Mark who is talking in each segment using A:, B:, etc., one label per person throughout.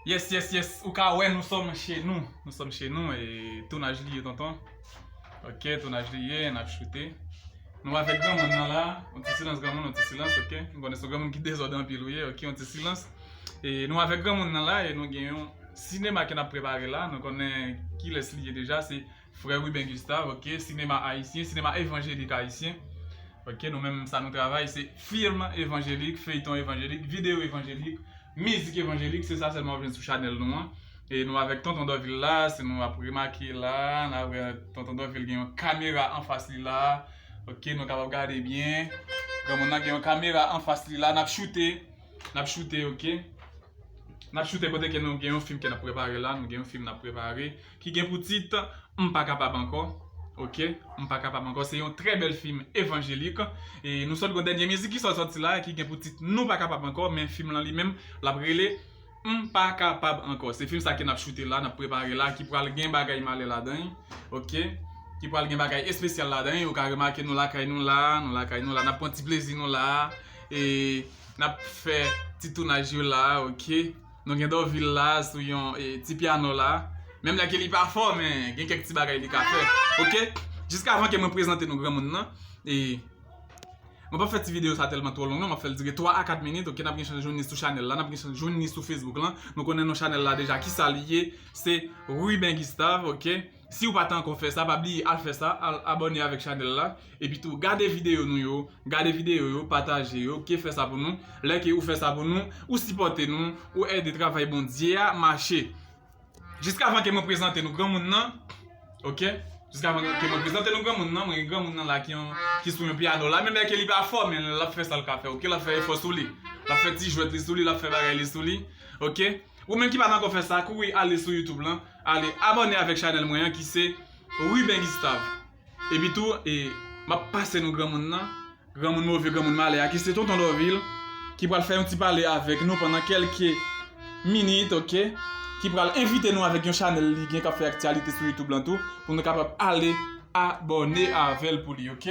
A: Yes yes yes ou ka wè nou sòm che nou nou sòm che nou e tounaj li ye tonton ok tounaj li ye nap choute nou avèk granmoun nan la yon ti silans granmoun yon ti silans ok m konnen se yon granmoun ki dezòd anpil ou ye ok yon ti silans e nou avèk granmoun nan la e nou gen yon sinema ke nap prepare la nou konnen kilès li ye deja se Frè Ruben Gustave ok sinema ayisyen sinema evanjelik ayisyen ok nou menm sa nou travay se film evanjelik feyton evanjelik video evanjelik mizik evanjelik se sa sèlman wap jwenn sou chanèl nou an e nou avèk tonton Dorvil la si nou ap remake la nan wè tonton Dorvil gen yon kamera anfas li la ok nou kapab gade byen granmoun nan gen yon kamera anfas li la nap choute nap choute ok nap choute kote ke nou gen yon film ke nap prepare la nou gen yon film nap prepare Ki gen pou tit, M pa kapab ankò Ok M pa kapab ankò se yon trè bèl fim evanjelik e nou sot gon dènye mizik ki sot sòti la ki gen pou tit Nou pa kapab ankò men fim lan li menm lap rele M pa kapab ankò se fim sa ke nap choute la nap prepare la ki pral gen bagay malè ladan ok ki pral gen bagay espesyal ladan ou ka remake nou lakay nou la nou lakay nou la nap pran ti plezi nou la e nap fè ti tounaj yo la ok. Nou gen Dorvil la sou yon ti piano la. Menm lè ke li pa fò men gen kèk ti bagay li ka fè. Ok! Jiskavan ke mwen prezante nou granmoun nan. E Mwen pap fè ti video sa tèlman twò long non. Map fèl dire 3 a 4 minit. Ok nap gen chans jwenn li sou chanèl la. Nap gen chans jwenn li sou Facebook lan. Nou konnen non chanèl la deja kisa li ye. Se Ruben Gustave ok. Siw pa ta ankò fè sa pa bliye al fè sa al abòne avèk chanèl la epi tou gade videyo nou yo gade videyo yo pataje yo ke fè sa pou nou lè ke ou fè sa pou nou ou sipòte nou ou ède travay Bondye a mache jiskavan ke mwen prezante nou granmoun nan ok jiskavan ke mwen prezante nou granmoun nan mwen gen granmoun nan la ki sou yon piyano la menm lè ke li pa fò men lap fè sal ka fè ok lap fè efò sou li lap fè ti jwèt li sou li lap fè bagay li sou li ok. Ou menm ki pat ankò fè sa kouri ale sou youtube lan ale abòne avèk chanèl mwen an ki se Ruben Gustave epi tou e map pase nou granmoun nan granmoun move granmoun malè a ki se tonton Dorvil ki pral fè yon ti pale avèk nou pandan kelke minit ok ki pral envite nou avèk yon chanèl li gen kap fè aktyalite sou youtube lan tou pou nou kapab ale abòne avèl pou li ok.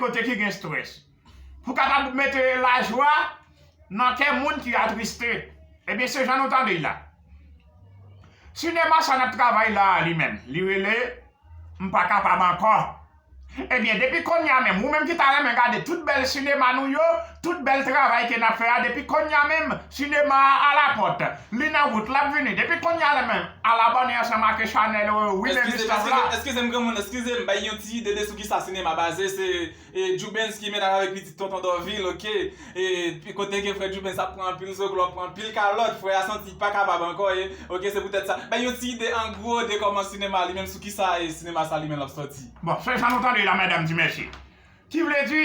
B: kote ki gen strès. Pou kapab mete lajwa nan kè moun ki atriste. Ebyen se jan nou tande y la. Sinema sa n ap travay la a li menm, li rele M pa kapab ankò. Ebyen depi kounye a menm, ou menm ki ta renmen gade tout bèl sinema nou yo, Tout bèl travay ke nap fè a depi konnya menm sinema a ala pòt li nan wout lap vini depi konnya la menm al abòne ansanm ake chanèl ou wi menm istòv la. Eskizem
A: granmoun eskizem bay yon ti ide de sou kisa sinema baze se djoubens ki mennaj avèk pitit tonton dòvil ok e kote ke frè djoubens ap pran anpil zoklo ap pran anpil kalòt frè a santi pa kapab ankò e ok se poutèt sa bay yon ti ide an gwo de kòman sinema li menm sou kisa sinema sa li menm lap sòti. Bon se jan nou tande la
B: mèdam di mèsi Ki vle di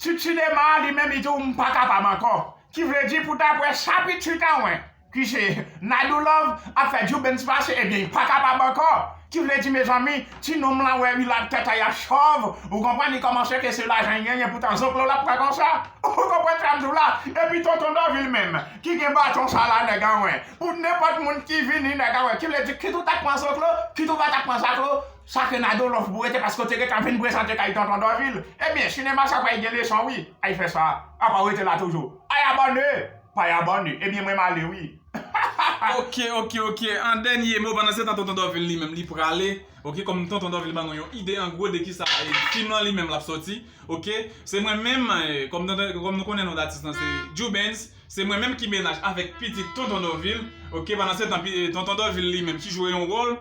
B: Tut Cinema li menm li di w m pa kapab ankò. Ki vle di pou daprè sa Pit Tut a wè ki se Nadou Love ap fè Djoubens pase ebyen li pa kapab ankò. Ki vle di mezanmi ti nonm lan wè wi lap tèt a yap chòv ou konprann li kòmanse ke se lajan li genyen poutan zoklo lap pran konsa ou konprann sa m di w la. Epi Tonton Dòvil menm ki gen baton sa la nèg an wè pou nenpòt moun ki vini nèg an wè ki vle di kit ou tap pran zoklo kit ou pa tap pran zaklo Sa ke Nado love pou rete paske w te gentan ap vin prezante kay tonton Dorvil ebyen sinema sa pral gen leson wi ay fè sa apa w rete la toujou ay abòne pay abòne ebyen mwen m ale wi hahaha. Ok
A: ok ok an dènye mo pandan se tan tonton Dorvil li menm li prale ok kòm tonton Dorvil ban nou yon ide an gwo de kisa fim lan li menm lap sòti ok se mwen menm kòm tonton kòm nou konnen non datis lan se Djoubens se mwen menm ki mennaj avèk pitit tonton Dorvil ok pandan se tan tonton Dorvil li menm ki jwe yon wòl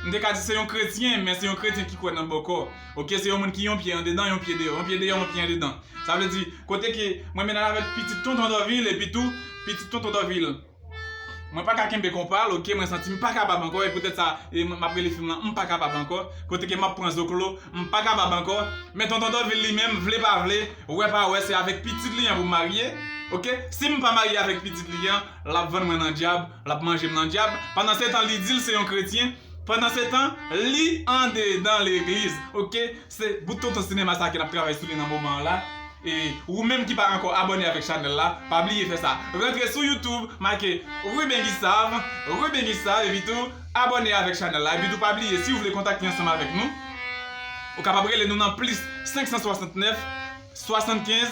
A: M te ka di se yon kretyen, men se yon kretyen ki kwè nan bòkò. Ok, se yon moun ki yon pye andedan, yon pye deyò, yon pye deyò, yon pye andedan. Sa vle di, kote ke mwen vin al avèk pitit tonton Dòvil, epi tou, pitit tonton Dòvil, mwen pa ka kenbe konpa l, ok, mwen santi m pa kapab ankò, e poutèt sa, e m ap rele fim lan M pa kapab ankò, kote ke m ap pran zoklo, m pa kapab ankò. Men tonton Dòvil li menm, vle pa vle, wè pa wè, se avèk pitit li an pou m marye, ok. Si m pa marye avèk pitit li an, l ap vann mwen nan dyab. L ap manje m nan dyab. Pandansetan li di l se yon kretyen. Pandansetan li andedan legliz. Ok se bout tonton sinema sa ke n ap travay sou li nan moman an la. E ou menm ki pa ankò abòne avèk chanèl la pa bliye fè sa. Rantre sou YouTube make Ruben Guisave, Ruben Guisave epitou abòne avèk chanèl la. Epitou pa bliye si ou vle kontakte ansanm avèk nou ou kapab rele nou nan plis 569 75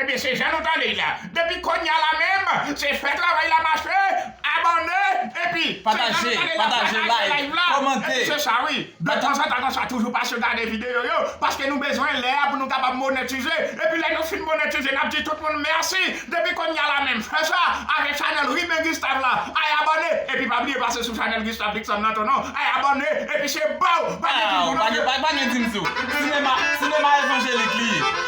A: Ebyen
B: se jan nou tande l la. Depi konya la menm se fè travay la mache, abòne epi Pataje, pataje,
A: like, kòmante. Se sa wi. De
B: tanzantan konsa toujou pase gade videyo yo paske nou bezwen lè a pou nou kapab monetize epi lè nou fin monetize nap di tout moun mèsi depi konya la menm fè sa avèk chanèl Riben Gustave la ay abòne epi pa bliye pase sou chanèl Gustave Dickson nan tou non ay abòne epi se baw pa gen dim sou non Waw pa gen dim
A: sou Sinema, sinema evanjelik li ye.